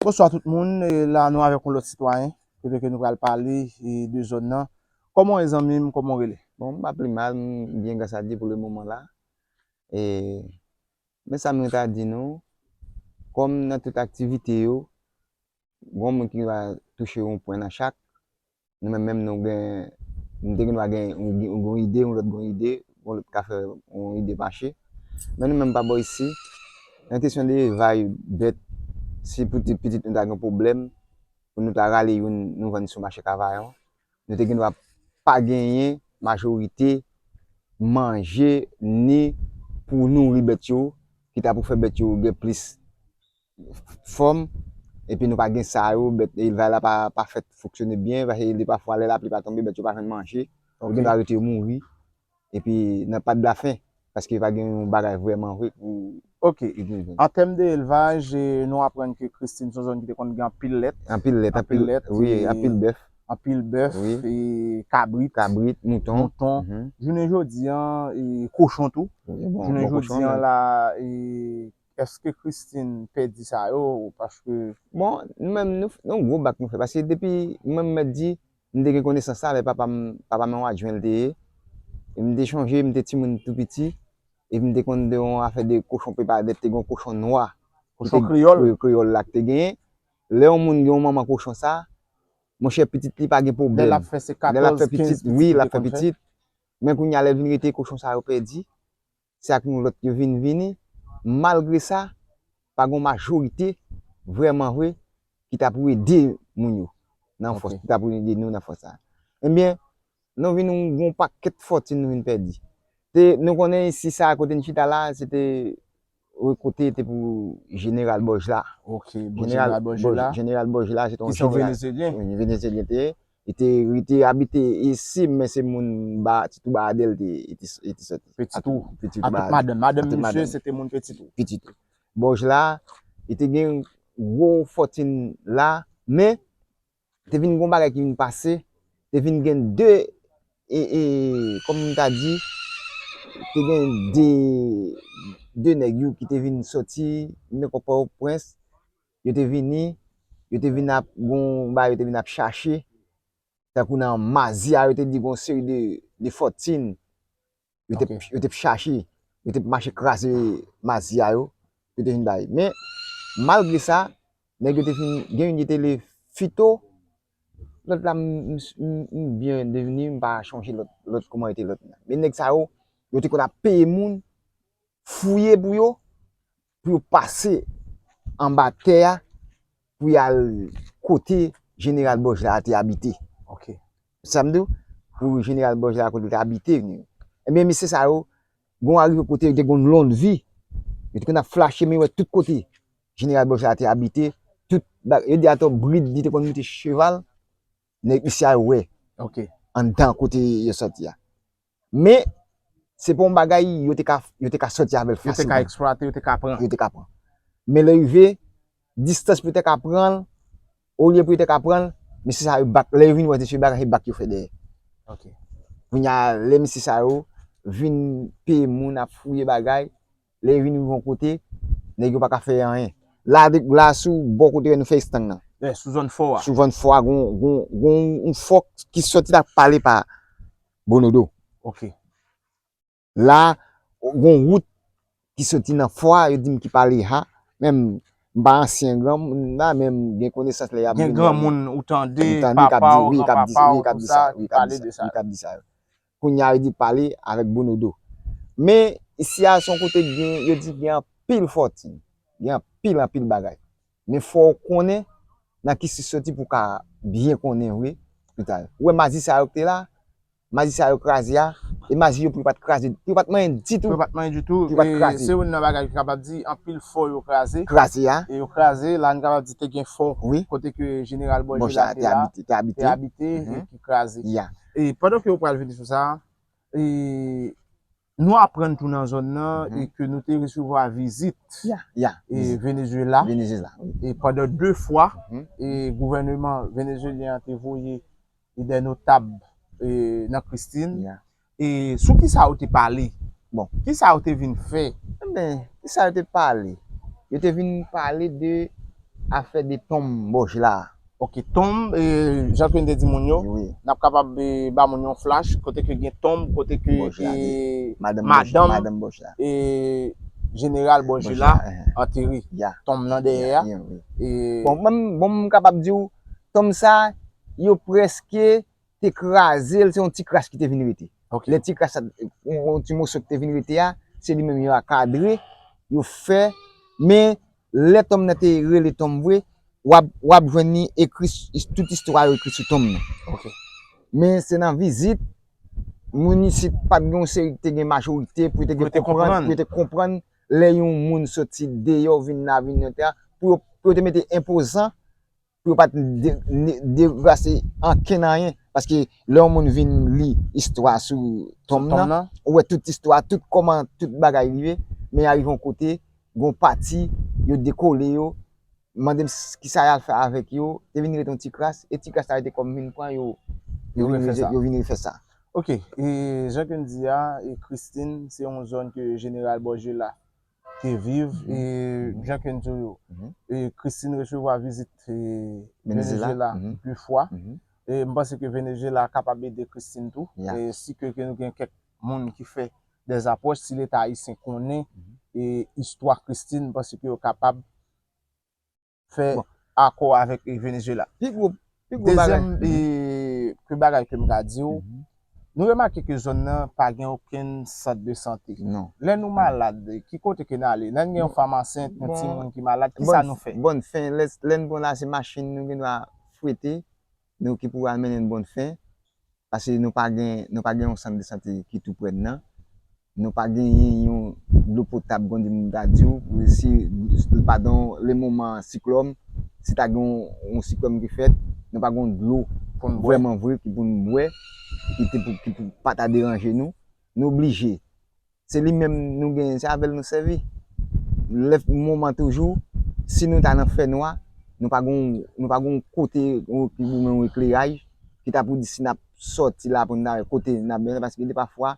Bonswa tout moun, la nou avèk yon lòt sitwayen, kote ke nou pral pale de zòn nan. Kòman w ye zanmi m, kòman w rele? Bon, m pa pli mal, m byen gras a Dye pou le moman la. E, men sa mwen ta di nou, kòm nan tout aktivite yo, Gon moun ki va touche yon pwen nan chak. Nou menm menm nou gen, nou te gen dwa gen yon ide, yon lòt gen yon ide, yon lòt ka fè yon ide mache. Men nou menm pa bò isi, nan kesyon de evay bèt, si pou ti pitit nou ta gen pwoblèm, pou nou ta rale youn nou vann sou mache Kavayon, nou te gen dwa pa genyen majorite manje ni pou nouri bèt yo, ki ta pou fè bèt yo gen plis fòm epi nou pa gen sa yo bèt elevay la pa fèt fonksyone byen pase li pafwa lè lapli pa tonbe bèt yo pa jwenn manje donk gen dwa rete yo mouri epi nan pa dlafen paske yo pa gen yon bagay vrèman vre pou Ok, an tèm de elvaj nou aprann ke Christine son zòn ki te konn gen anpil lèt anpil lèt, anpil lèt, wi, anpil bèf anpil bèf, kabrit, kabrit, mouton, mouton jounen jodi an, kochon tou jounen jodi an la, Eske Christine pedi sa yo paske. Bon nou menm nou yon gwo bak nou fè paske depi mwen menm mèt di m te gen konesans sa lè papa m papa m yon adjwen l te ye e m te chonje m te timoun tou piti e m te konn de yon afè de kochon pepa dèt te gen yon kochon nwa kochon kreyòl wi kreyòl la k te genyen lè yon moun gen yon manman kochon sa monchè pitit li pa gen pwoblèm lè l ap fè se katòz kenz pitit wi l ap fè pitit men kounye a lè l vin rete kochon sa yo pèdi. se ak nou lòt yo vin vini, malgre sa, pa gen yon majorite vrèman vre ki ta pou ede moun yo nan fòs, ki ta pou ede nou nan fòs sa a. Ebyen, nou vin gen yon pakèt fòtin nou vin pèdi. Se, nou konnen isi sa a kote n chita la a, se te yon kote te pou jeneral Bòj la. Ok, bon jeneral Bòj la. Jeneral Bòj la se te yon jeneral. Ki se yon Venezyelyen. Yon Venezyelyen te ye. Li te li te abite isi men se moun ba Petit ou ba Adel li te li te soti. Petit ou Petit ou ba Adel. Ak tout madanm. Madanm misye se te moun Petit ou. Petit ou. Bòj la li te gen gwo fòtin la men te vin gen yon bagay ki vin pase te vin gen 2 e e kòm m ta di te gen 2 2 nèg yo ki te vin soti men kòpòy prens. Yo te vini, yo te vin ap gon bagay yo te vin ap chache, tankou nan Mazia yo te di gon seri de fòtin yo te yo te chache, yo te mache kraze Mazia yo, yo te vin bay. Men, malgre sa, nèg yo te fin, gen youn ki te rele Fito, lòt la m byen devni, m pa chonje lòt, lòt kouman yo te rele lòt la. Men nèg sa yo, yo te konn ap peye moun fouye pou yo, pou yo pase anba tè a pou y al kote jeneral Bòj la te abite. Ok. Sa m di w? Pou jeneral Bòj la kote l te abite. Ebyen mesye sa yo, gen yon arive kote yo te gen yon lonnvi, yo te konn ap flache men yo wè tout kote jeneral Bòj la te abite. Tout bagay, yo di atò brid li te konn monte cheval, nèg isi a yo wè anndan kote yo soti a. Men, se pa yon bagay yo te ka, yo te ka sòti avèl fasilman. Yo te ka eksplwate, yo te ka pran. Yo te ka pran. Men lè rive, distans pou yo te ka pranl, olye pou yo te ka pranl, mesye sa yo bak, lè yo vin wè mesye Barak se bak yo fè dèyè. Ok. Kounya lè mesye sa yo vin peye moun ap fouye bagay, lè yo vin rive yon kote, nèg yo pa ka fè anyen. La de, la sou bò kote lè nou fè estang nan. Sou zòn fò a. Sou zòn fò a gon, gon, gon yon fò ki sòti la pale pa. Bonodo. Ok. La, gon wout ki soti nan fò a, yo di m ki pa Leha. Menm, m pa ansyen granmoun la, men m gen konesans lè y ap. Gen granmoun ou tande, papa ou, gran papa ou, tout sa, ki pale de sa. Wi, k ap di sa yo. Kounye a, yo di pale avèk Bonodo. Men, isi a, s on kote ki gen, yo di ki gen anpil fòtin. Gen anpil, anpil bagay. Men fò w konnen nan ki sis soti pou w ka byen konnen vre pita. Ou wè maji sa yo ki te la, maji sa yo kraze a, e maji yo pou yo pa t kraze, pou yo pa t manyen ditou. Pou yo pa t manyen ditou. Pou yo pa t kraze. E se youn nan bagay ki kapab di anpil fò yo kraze. Kraze a. E yo kraze, la nou kapab di te gen fò. Wi. Kote ke jeneral Bòjela te la. Bòjela te abite. Te abite. Te abite, e ki kraze. Ya. E pandan ke ou pral vini sou sa, e. Nou aprann tou nan zòn nan e ke nou te resevwa vizit Venezuela e pandan 2 fwa e gouvèneman Venezuelyen an te voye dè notab e nan Christine e sou ki sa yo te pale? Bon, ki sa yo te vin fè? E ben, ki sa yo te pale? Yo te vin pale de afè de tonm Bojla a. Ok tonb jan ke n te di moun yo nap kapab ba moun yon flash kote ke gen tonb kote ke madanm general Bòjè la antere tonb nan dèyè a bon m kapab di w tonb sa yo preske te kraze l, se yon ti kras ki te vin rete. Lè ti kras sa, yon ti moso ki te vin rete a, se li menm yo a kadre, yo fè. Men, lè tonm nan te rele tonm vre, w ap jwenn li ekri, tout istwa yo ekri sou tonm nan. Men, se nan vizit, moun isit pa t gen yon seri, te gen majorite pou yo te konprann, pou yo te konprann lè yon moun soti deyò vin nan avni Lyon te a, pou yo te mete enpozan. pou yo pa t devase ankenn anyen. Paske lè yon moun vin li istwa sou tonm nan, ou wè tout istwa a, tout kòman tout bagay rive, men arive yon kote, gen yon pati, yo dekole yo, mande m ki sa y al fè avèk yo, te vin rete yon ti kras, e ti kras sa yo te kòm vin pran yo, yo vin refè sa. Ok, e jan ke n di a, Christine se yon zòn ke jeneral Bòjela te viv e jan ke n di w yo, Christine resevwa vizit Venezyela de fwa. M panse ke Venezyela kapab ede Christine tou. Si ke nou gen kèk moun ki fè dè apwòch, si leta ayisyen konnen istwa Christine, m panse ke yo kapab. fè akò avèk Venezuela. Pi gwo bagay. Dezyèm bagay ke m ka di ou, nou remake ke zòn nan pa gen okenn sant de sante. Non. Lè nou malad, ki kote ke n ale? Lè n gen yon fanm ansent, yon timoun ki malad, kisa nou fè? Bon, lè n pran la se machin nou gendwa fwete Nou ki pou al mennen n bon fen, pase nou pa gen nou pa gen yon sant de sante ki tou prè n nan, nou pa genyen yon dlo potab kondi m ta di w si l pa gen lemoman siklòn, si ta gen yon siklòn ki fèt, nou pa gen yon dlo vrèman vre ki pou n bwè, ki pou pa ta deranje nou. Nou oblije. Se li menm nou genyen, se avè l nou sèvi. Lè moman toujou, si nou ta nan fè nwa, nou pa gen nou pa gen yon kote yon ki goumen yon ekleraj ki ta pou di si n ap sòti la pou n ta wè kote n ap menm paske depa fwa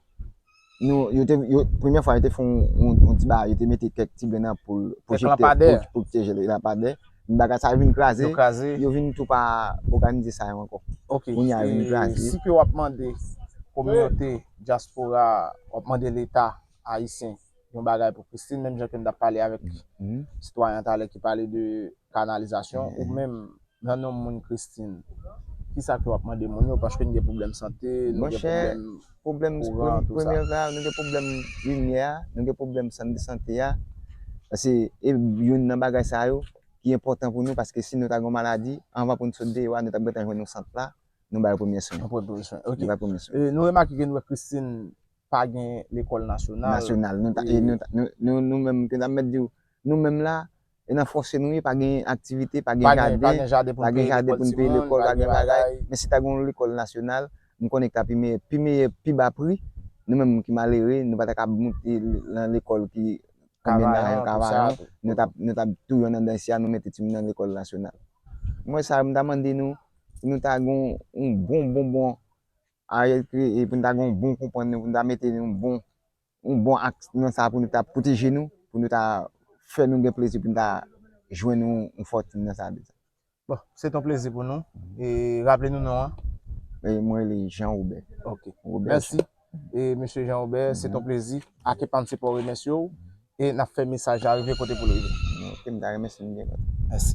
nou yo te yo premye fwa yo te fè yon yon ti bagay yo te mete kèk ti grenn anpoul pwojektè pou lanpadè pou pwoteje l lanpadè men bagay sa yo vin kraze yo kraze yo vin tou pa òganize sa yo ankò ok kounye a yo vin kraze si ke w ap mande kominote Dyaspora a wap mande leta ayisyen yon bagay pou Christine menm jan ke m tap pale avèk sitwayen an talè ki pale de kanalizasyon ou menm nan nom moun Christine kisa ke wap mande moun yo paske nou gen pwoblèm sante nou gen pwoblèm kouran tout sa. Monchè pwoblèm premye va nou gen pwoblèm limyè a nou gen pwoblèm sant de sante a pase e youn nan bagay sa yo ki enpòtan pou nou paske si nou ta gen yon maladi anvan pou nou sot deyò a nou tap gentan jwenn yon sant la Nou bay premye swen. Nou bay premye swen. Ok. Nou bay premye swen. Nou remake ke Noue Christine pa gen lekòl nasyonal. Nasyonal. Nou ta, e nou ta, nou, nou menm, ke ta mèt di ou, nou menm la, e nan fòse nou ye, pa gen aktivite, pa gen jaden. Pa gen jaden pou nou peye lekòl ti moun. Pa gen jaden pou nou peye lekòl, pa gen bagay. Men si ta gen yon lekòl nasyonal, m konnen ki ta pi meyè. Pi meyè, pi ba pri. Nou menm ki malere, nou pa ta ka moute nan lekòl ki konbyen nan yon kavayon. Nou ta, nou ta tou yon nan dansi a, nou mete ti moun nan lekòl nasyonal. Mwen sa, m ta mande nou, pou nou ta gen yon bon bonbon Ariel kreye, pou nou ta gen yon bon konprann nou, pou nou ta mete yon bon yon bon aks nan sa pou nou ta pwoteje nou, pou nou ta fè nou gen plezi pou nou ta jwenn yon fòtin nan sa. Bon, se te yon plezi pou nou. E raple nou non an? Mwen rele Jean Robert. Ok. Mèsi. E Mesye Jean Robert, se ton plezi ak epa mse pouw remèsye w e nap fè mesaj la rive kote poul rive. Ok, mta renmen sim gen tan. Mèsi.